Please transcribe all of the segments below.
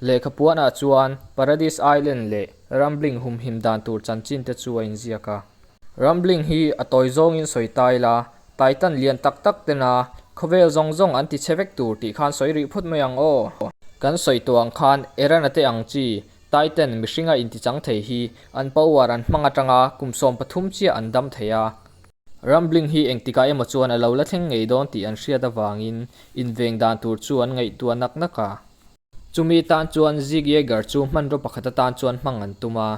Lehkha puanah chuan Paradise Island leh Rambling humhim dan tur chanchinte chu a inziak a. Rambling hi a tawi zawngin sawi ta ila, Titan lian tak tak tena khawvel zawng zawng an ti che vek tur tih khan sawi rih phut mai ang aw. Kan sawi tawh ang khan errand a teh ang chi, Titan mihringa intichang thei hi an power an hmang atanga kum sawm pathum chiah an dam thei a. Rambling hi engtikah emaw chuan a lo la thleng ngei dawn tih an hriat avangin inveng dan tur chu an ngaihtuah nak nak a. Chumi tan chuan Zig Yeager chu hmanraw pakhat atan chuan hmang an tum a.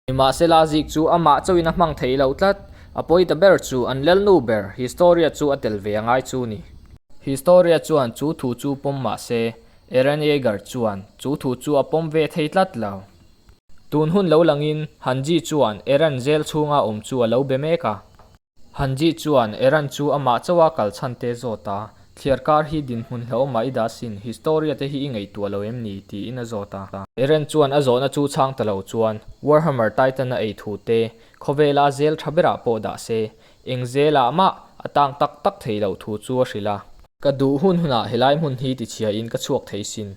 Nimahsela Zig chu amah chauhin a hmang thei lo tlat. A pawi ta ber chu an lelnu ber Historia chu a tel ve a ngai chu ni. Historia chuan chu thu chu pawm mahse, Eren Yeager chuan chu thu chu a pawm ve thei tlat lo. Tun hun lo langin Han Ji chuan Eran zel chhunga awm chu a lo be mek a. Han Ji chuan Eran chu amah chauha kal chhante zawt a, thliar kar hi dinhmun hlauh mah i dah sin, historia te hi i ngaihtuah lo em ni? tiin a zawt a. Eran chuan a zawhna chu chhang ta lo chuan Warhammer Titan a ei thu te, khawvela zel tha berah pawh dah se, eng zelah mah a tang tak tak thei loh thu chu a hrilh a. Ka duh hun hunah helai hmun hi tichhiahin ka chhuak thei sin,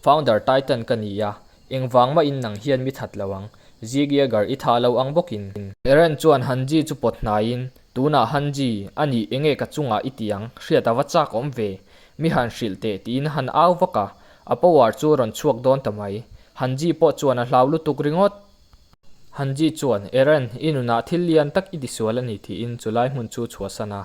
Founder Titan ka ni a, Engvang mah in nang hian mi that lo ang. Zigia gar i tha lo ang bawk in. Eren chuan han ji chu pawt hnai in, Tunah han ji a ni eng e ka chungah i ti ang, hriat a va chak awm ve. Mi han hrilh teh ti in han au vak a, a power chu rawn chhuak dawn ta mai. Han ji pawh chuan a hlau lutuk ringawt. Han ji chuan, Eren, i nunah thil lian tak i ti sual a ni ti in chu lai hmun chu chhuah san a.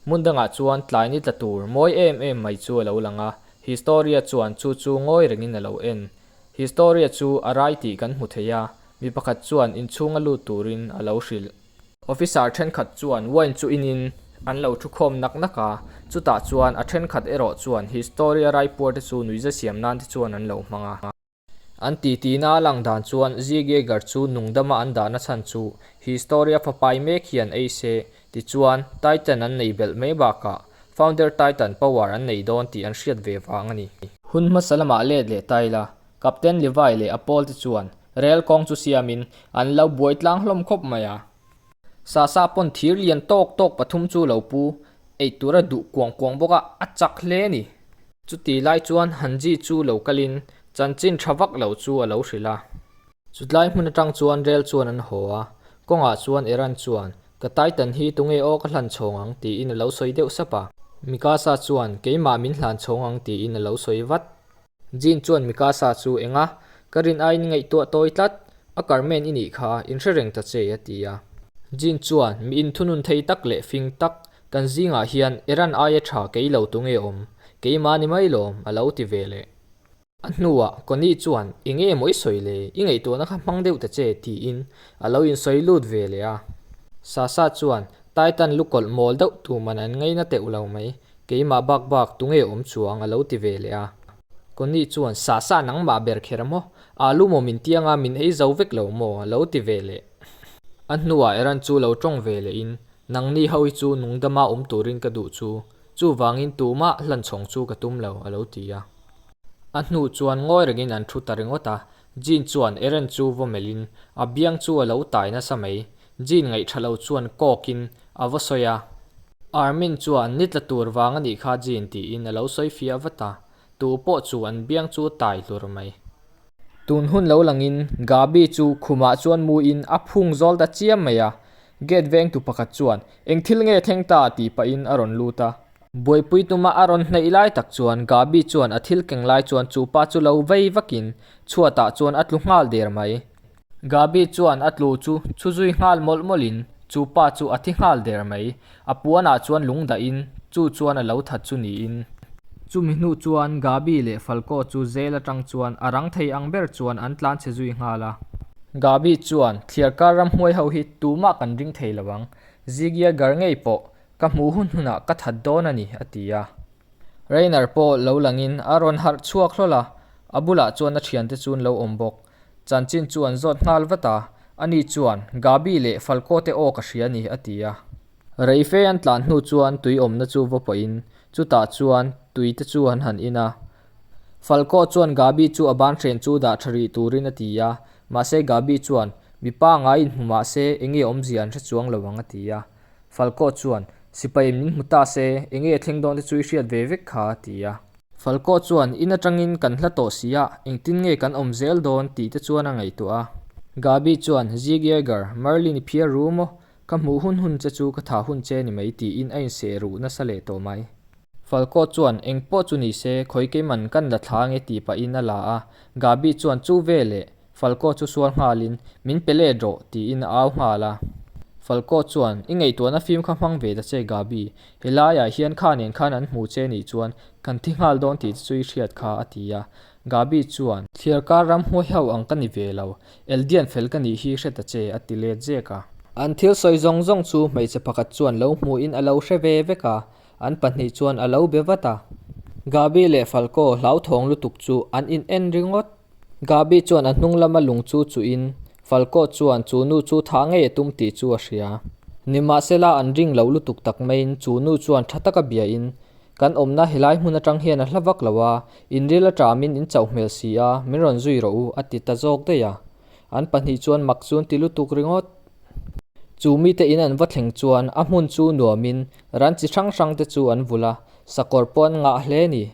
Hmun dangah chuan tlai ni tla tur mawi em em mai chu a lo lang a, Historia chuan chu chu ngawi rengin a lo en. Historia chu a rai tih kan hmu thei a, mi pakhat chuan inchhunga lut turin a lo hrilh. Officer thenkhat chuan wine chu inin an lo thu khawm nak nak a, chutah chuan a thenkhat erawh chuan Historia raipuarte chu nuihza siam nan te chuan an lo hmang a. An tihti'na a lang dan chuan Ziegeger chu nungdama an dahna chhan chu history a fapai mek hian ei se, tichuan Titan an nei belh mai bakah Founder Titan Power an nei dawn tih an hriat ve vang a ni. Hun hmasa lamah let leh taila Captain Levi leh a pawl te chuan rel kawng chu siamin an lo buaitlang hlawm khawp mai a, Sasa pawn thir lian tawk tawk pathum chu lo pu ei tur a duh kuang kuang bawk a, a chak hle a ni. Chuti lai chuan han ji chu lo kal in chanchin tha vak lo chu a lo hrilh a. Chutlai hmun atang chuan rel chuan an haw a, kawngah chuan Eran chuan, Ka Titan hi tunge aw ka hlan chhawng ang tiin a lo sawi deuh sap a. Mikasa chuan, Keimah min hlan chhawng ang tiin a lo sawi vat. Jean chuan Mika sa chu enga ka rin aiin ngaihtuah tawi tlat, a Carmen i nih kha in hre reng ta che a ti a. Jean chuan mi inthunun thei tak leh fing tak kan zingah hian e ran aia tha kei lo tu nge awm, keimahni mai lawm a lo ti ve leh. A hnuah Connie chuan enge mawi sawi le i ngaihtuahna kha hmang deuh ta che tiin a lo insawi lut ve leh a. Sasa chuan Titan lu kawlh mawl deuh tuman an ngei na teuh lo mai, keimah bak bak tunge awm chuang a lo ti ve leh a. Connie chuan sa sa nangmah ber kher maw, aa lu maw min tiang a, min ei zo vek lo maw a lo ti ve leh. A hnuah Eran chu lo tawng ve leh in, nang ni ho hi chu nung dama awm turin ka duh chu, chuvangin tumah hlan chhawng chu ka tum lo a lo ti a. A hnu chuan ngawi reng in an thu ta ringawt a, Jean chuan Eran chu vaw melh in, a biang chu a lo tai nasa mai, Jean ngaih tha lo chuan coke in a va sawi a, Armin chuan ni tla tur vang a nih kha Jean tiin a lo sawi fiah vat a, tu pawh chu an biang chu tai hlur mai. Tun hun lo lang in Gabi chu khum ah chuan mu in a phung zawl ta chiam mai a, gate veng tu pakhat chuan eng thil nge thleng ta tih pah in a rawn lut a, Buaipui tuma a rawn hnaih lai tak chuan Gabi chuan a thil keng lai chuan chu pa chu lo vei vak in chhuat ah chuan a tlu nghal der mai, Gabi chuan a tlu chu chu zui nghal mawlh mawlh in chu pa chu a thi nghal der mai. A puan ah chuan lung dah in chu chuan a lo that chu ni in. Chumi hnu chuan Gabi leh Falco chu zel atang chuan a rang thei ang ber chuan an tlan chhe zui nghal a. Gabi chuan, Thliar kar ram hmuai ho hi tumah kan ring thei lo ang. Zigia gar ngei pawh ka hmuh hun hun ah ka that dawn a ni a ti a. Reiner pawh lo lang in a rawn harh chhuak hlawl a, a bulah chuan a thiante chu an lo awm bawk. Chanchin chu an zawt nghal vat a, ani chuan Gabi leh Falco te aw ka hria a ni, a ti a. Reife an tlan hnu chuan tui awmna chu va pawhin chutah chuan tui te chu an han in a. Falco chuan Gabi chu a ban hren chu dah tha rih turin a ti a, mahse Gabi chuan, Mipa ngai in hmu mahse enge awmzia an hre chuang lo ang, a ti a. Falkawh chuan, Sipai min hmu ta se, eng nge thleng dawnte chu i hriat ve vek kha a ti a. Falkawh chuan, In atangin kan hla tawh si a, engtin nge kan awm zel dawn tih te chuan a ngaihtuah a. Gaby chuan, Zig Yeager, Marlin i phiar ru maw, ka hmuh hun hun che chu ka tha hun che ni mai tiin a inseh ruh nasa leh tawh mai. Falkawh chuan, Engpawh chu ni se, khawi keiman kan la thlang e tih pahin a la a. Gaby chuan, Chu veleh, Falkaw chu sual nghalin, Min pe let rawh, tiin a au nghal a. Falkaw chuan, I ngaihtuahna fim kha hmang ve ta che Gabi. He laiah hian kha nen khan an hmu che nih chuan kan thi nghal dawn tih te chu i hriat kha, a ti a. Gabi chuan. Thliar kar ram huai hauh ang ka ni ve lo. Eldian fel ka nih hi hre ta che, a ti let zek a. An thil sawi zawng zawng chu hmeichhe pakhat chuan lo hmuhin a lo hre ve vek a, an pahnih chuan a lo be vat a. Gabi leh Falkaw hlauthawng lutuk chu an in en ringawt. Gabi chuan a hnung lama lung chu chuhin Falco chuan chu nu chu thah ngei a tum tih chu a hria. Nimahsela an ring loh lutuk tak maiin chu nu chuan tha taka biahin, Kan awmna helai hmun atang hian a hla vak lo a, inril atah min in chauh hmel si a, min rawn zui rawh u, a ti ta zawk daih a. An pahnih chuan mak chu an ti lutuk ringawt. Chu mite in an va thleng chuan a hmun chu nuamin ran chi hrang hrang te chu an vulh a, sakawr pawh an ngah hle ni.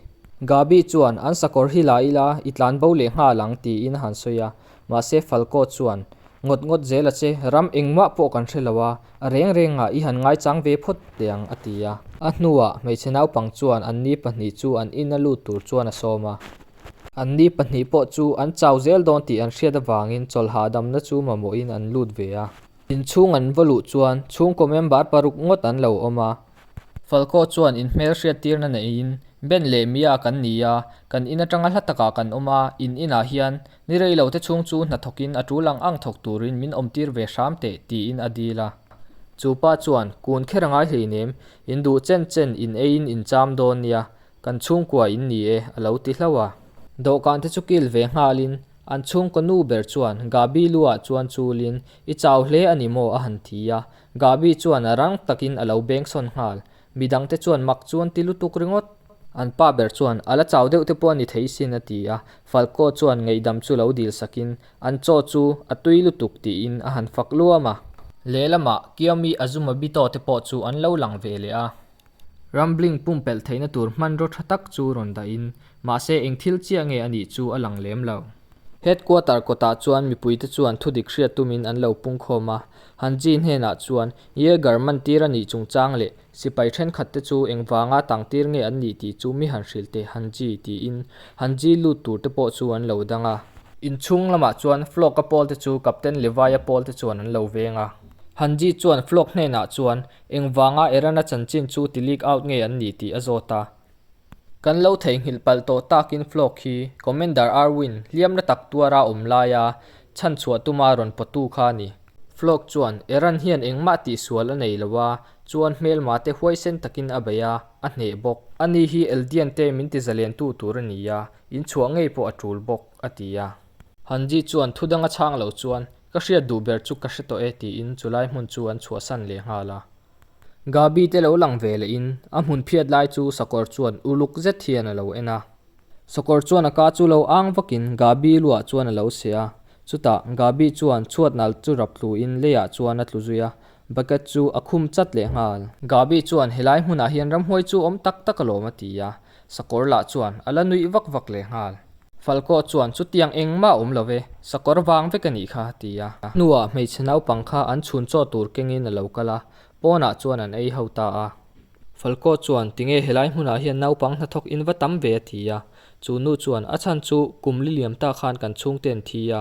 Gaby chuan an sakawr hi la ila i tlan bo leh nghal ang tiin a han sawi a, mahse Falco chuan, Ngawt ngawt zel a che, ram engmah pawh kan hre lo a, a reng rengah i han ngaichang ve phawt leh ang a ti a. A hnuah hmeichhe naupang chuan an ni pahnih chu an in a lut tur chuan a sawm a. An ni pahnih pawh chu an chau zel dawn tih an hriat avangin chawl hahdamna chu mamawhin an lut ve a. Inchhung an va luh chuan chhungkaw member paruk ngawt an lo awm a. Falkaw chuan in hmelhriat tirna neiin, Ben leh Mia kan ni a, kan in atanga hla takah kan awm a, in inah hian ni rei lo te chhung chu hna thawkin a tul ang ang thawk turin min awm tir ve hram teh tiin a dil a. Chu pa chuan, Kun kher a ngai hleinem, in duh chen chen in eiin in cham dawn nia, Kan chhungkua in ni e, a lo ti hlo a. Dawhkan te chu kil ve nghal in an chhungkaw nu ber chuan Gabi lu ah chuan chul in, I chau hle a ni maw a han ti a. Gabi chuan a rang tak in a lo beng sawn nghal. Mi dang te chuan mak chuan ti lutuk ringawt. An pa ber chuan, A la chau deuh te pawh a ni thei isin a ti a. Falkaw chuan ngeihdam chu lo dil sak in, An chaw chu a tui lutuk ti in a han fak luam a. Lehlam ah Kiami Azumabi tawh te pawh chu an lo lang ve leh a. Rambling pumpelh theihna tur hmanraw tha tak chu rawn dahin, mahse eng thil chiah nge a nih chu a lang lem lo. Headquarter kawtah chuan mipuite chuan thudik hriat tumin an lo pungkhawm a, Han Ji hnenah chuan, Yeager man tir a nih chungchang leh sipai thenkhat te chu engvanga tangtir nge an nih tih chu mi han hrilh teh Han Ji tiin Han Ji lut tur te pawh chu an lo dang a. Inchhung lamah chuan flock a pawl te chu Captain Levi-a pawl te chuan an lo veng a. Han Ji chuan flock hnenah chuan, Engvanga Iran-a chanchin chu ti leak out ngei an ni tih a zawt a. Kan lo theihnghilh palh tawh takin flog hi Commander Arwin hliamna tak tuara awm laia chhanchhuah tuma rawn pawtu kha a ni. Flog chuan Iran hian engmah tihsual a nei lo a, chuan hmelmate huaisen takin a bei a, a hneh bawk. A ni hi Eldiante min ti zalentu tur a ni a, inchhuah ngei pawh a tul bawk, a ti a. Hanji chuan thudanga chhang lo chuan Ka hriat duh ber chu ka hre tawh e tiin chu lai hmun chu an chhuah san leh nghal a. Gabi te lo lang ve lehin a hmun phiat lai chu Sakawr chuan uluk zet hian a lo en a. Sakawr chuan a ka chu lo ang vakin Gabi luah chuan a lo se a. Chutah Gabi chuan chhuat nal chu rap tluin leiah chuan a tlu zui a, bucket chu a khum chat leh nghal. Gabi chuan helai hmunah hian ramhuai chu awm tak tak alawm a ti a. Sakawr lah chuan a la nuih vak vak leh nghal. Falkaw chuan chutiang eng mah awm love, sakawr vang vek a nih kha a ti a. A hnuah hmeichhe naupang kha an chhun chaw tur kengin a lo kal a, pawnah chuan an ei ho ta a. Falkaw chuan tinge helai hmunah hian naupang hnathawk in va tam ve a ti a, chu nu chuan a chhan chu kum liliam ta khan kan chhungte an thi a,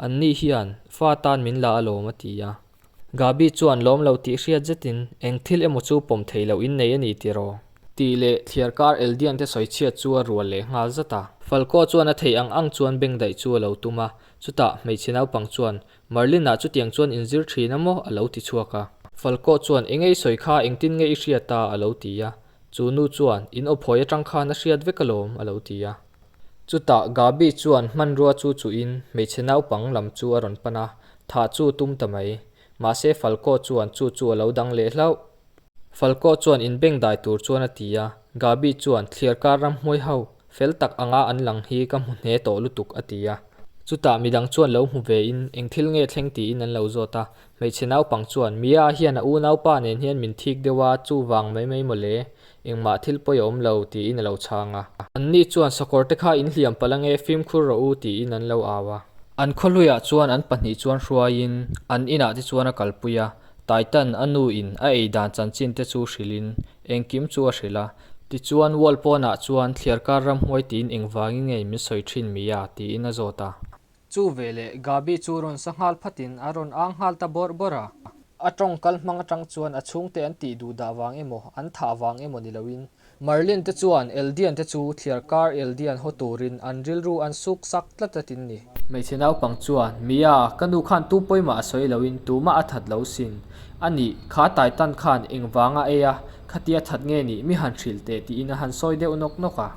anni hian fa tan min la alawm a ti a. Gabi chuan lawm lo tih hriat zetin, Eng thil emaw chu pawm thei lo in nei a ni tih raw? Tih leh thliar kar Eldian te sawi chhiat chu a rual leh nghal zat a. Falco chuan a thei ang ang chuan beng daih chu a lo tum a, chutah hmeichhe naupang chuan, Marlin-a chutiang chuan in zir thin a maw? a lo ti chhuak a. Falco chuan, Eng ei sawi kha eng tin nge i hriat a? a lo ti a. Chu nu chuan, In awphawi atang khan a hriat vek alawm, a lo ti a. Chutah Gabi chuan hmanrua chu chuhin hmeichhe naupang lam chu a rawn pan a, thah chu tum ta mai. Mahse Falco chuan chu chu a lo dang leh hlauh. Falco chuan inbeng dai tur chuan a ti a, Gabi chuan thliar kar ram hmuai hau, fel tak anga an lang hi ka hmu hneh tawh lutuk a ti a. Chutah midang chuan lo hmu ve in eng thil nge thleng tiin an lo zawt a, Hmeichhe naupang chuan, Mia a hian a unaupa nen hian min thik deuh a, chuvang mai mai mawle, engmah thil pawi a awm lo, tiin a lo chhang a. Anni chuan, Sakawrte kha in hliam palh ange, fimkhur rawh u, tiin an lo au a. An khawhluiah chuan an pahnih chuan hruaiin an inah te chuan a kalpui a, Taitan a nuin a ei dan chanchin te chu hrilhin, Engkim chu a hrilh a. Tichuan wall pawnah chuan, Thliarkar ram hmuai tiin engvangin ngei min sawi thin Mia, tiin a zawt a. Chu ve leh Gabi chu rawn sa nghal phat in a rawn âng nghal ta bawrh bawrh a. A tawngkal hmang atang chuan a chhung te an tih duh dah vang emaw, an thah vang emaw ni lo in. Marlene te chuan Eldian te chu thliar kar Eldian haw tur in an rilru an suk sak tlat tlat in ni. Hmeichhe naupang chuan, Mia, ka nu khan tu pawi mah a sawi lo in tumah a that lo sin a nih, kha tai tan khan engvang a ei a, khatia that nge nih mi han hrilh teh tiin a han sawi deuh nawk nawk a.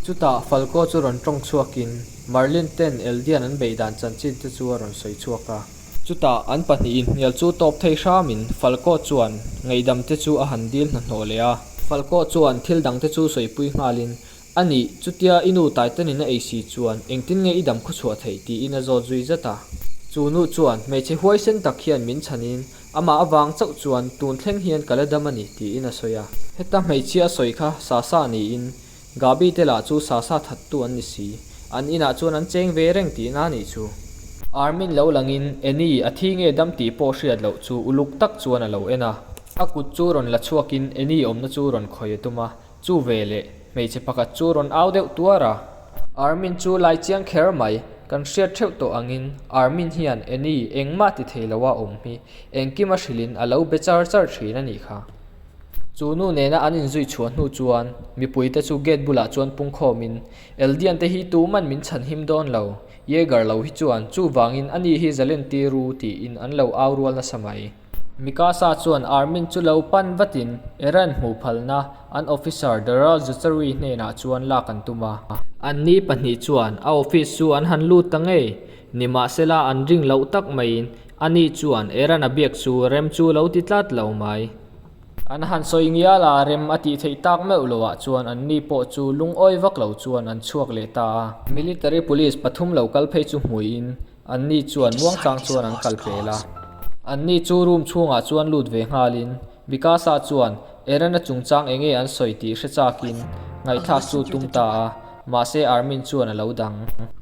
Chutah Falco chu rawn tawng chhuakin Marlene ten Eldian an beih dan chanchin te chu a rawn sawi chhuak a. Chutah an pahnih inhnial chu tawp thei hram in Falco chuan ngaihdam te chu a han dil hnahnawh leh a. Falco chuan thil dang te chu sawipui nghal in, A ni, chutia i nu Titan in a ei si chuan engtin nge i dam khaw chhuah theih? tiin a zawt zui zat a. Chu nu chuan hmeichhe huaisen tak hian min chhan in Amah avang chauh chuan tun thleng hian ka la dam a ni, tiin a sawi a. Heta hmeichhia sawi kha Sasa niin, Gabi te lah chu Sasa thattu an ni si. An inah chuan an cheng ve reng ti na nih chu. Armin lo langin, Annie, a thi nge dam tih pawh hriat loh chu uluk tak chuan a lo en a. A kut chu rawn la chhuakin Annie awmna chu rawn khawih a tum a. Chu ve leh, hmeichhe pakhat chu rawn au deuh tuar a. Armin chu lai chiang kher mai, kan hriat theuh tawh angin Armin hian Annie engmah ti thei lo a awm hi engkima hrilhin a lo be char char thin a nih kha. Chu nu nena an inzui chhuah hnu chuan mipui te chu gate bulah chuan pungkhawmin, Eldian te hi tuman min chhan him dawn lo, Yeager lo hi chuan chuvangin ani hi Zalenti ru tiin an lo au rual nasa mai. Mikasa chuan Armin chu lo pan vatin Eren hmuh phalna an officer Daryl Zhuchary hnenah chuan lak an tum a. Anni pahnih chuan a office chu an han lut ta ngei, nimahsela an ring loh tak maiin ani chuan Eren-a biak chu rem chu lo ti tlat lo mai. An han sawi ngial a, rem a tih theih tak meuh lo ah chuan anni pawh chu lungawi vak lo chuan an chhuak leh ta a. Military police pathum lo kal phei chu hmuiin Anni chuan muangchang chuan an kal pel a, anni chu room chhungah chuan lut ve nghalin Vikasa chuan Erana chungchang enge an sawi tih hre chakin ngaihthlak chu tum ta a, mahse Armin chuan a lo dang.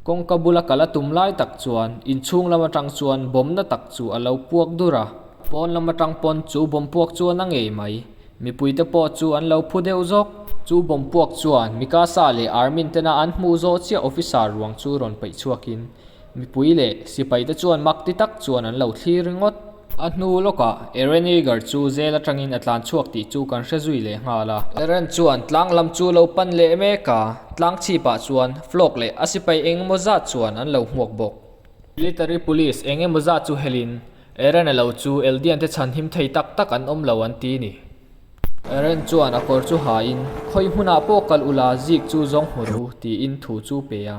Kawngka bula kal a tum lai tak chuan inchhung lam atang chuan bawmna tak chu a lo puak dur a, pawn lam atang pawn chu bawm puak chu a na ngei mai. Mipui te pawh chu an lo phu deuh zawk. Chu bawmpuak chuan Mikasa leh Armin tena an hmuh zawh chiah officer ruang chu rawn peih chhuak in mipui leh sipai te chuan mak ti tak chuan an lo thlir ringawt. A hnu lawk ah Eren Yeager chu zel atang in a tlan chhuak tih chu kan hre zui leh nghal a. Eren chuan tlang lam chu lo pan leh mek a, tlang chhip ah chuan Flock leh a sipai eng emaw zat chuan an lo hmuak bawk. Military police eng emaw zat chu hel in Aaron a lo chu Eldian te chhan him thei tak tak an awm lo an ti ni. Aaron chuan a kawr chu hain, Khawi hmunah pawh kal u la, Zeke chu zawng hmu ru, tiin thu chu pe a.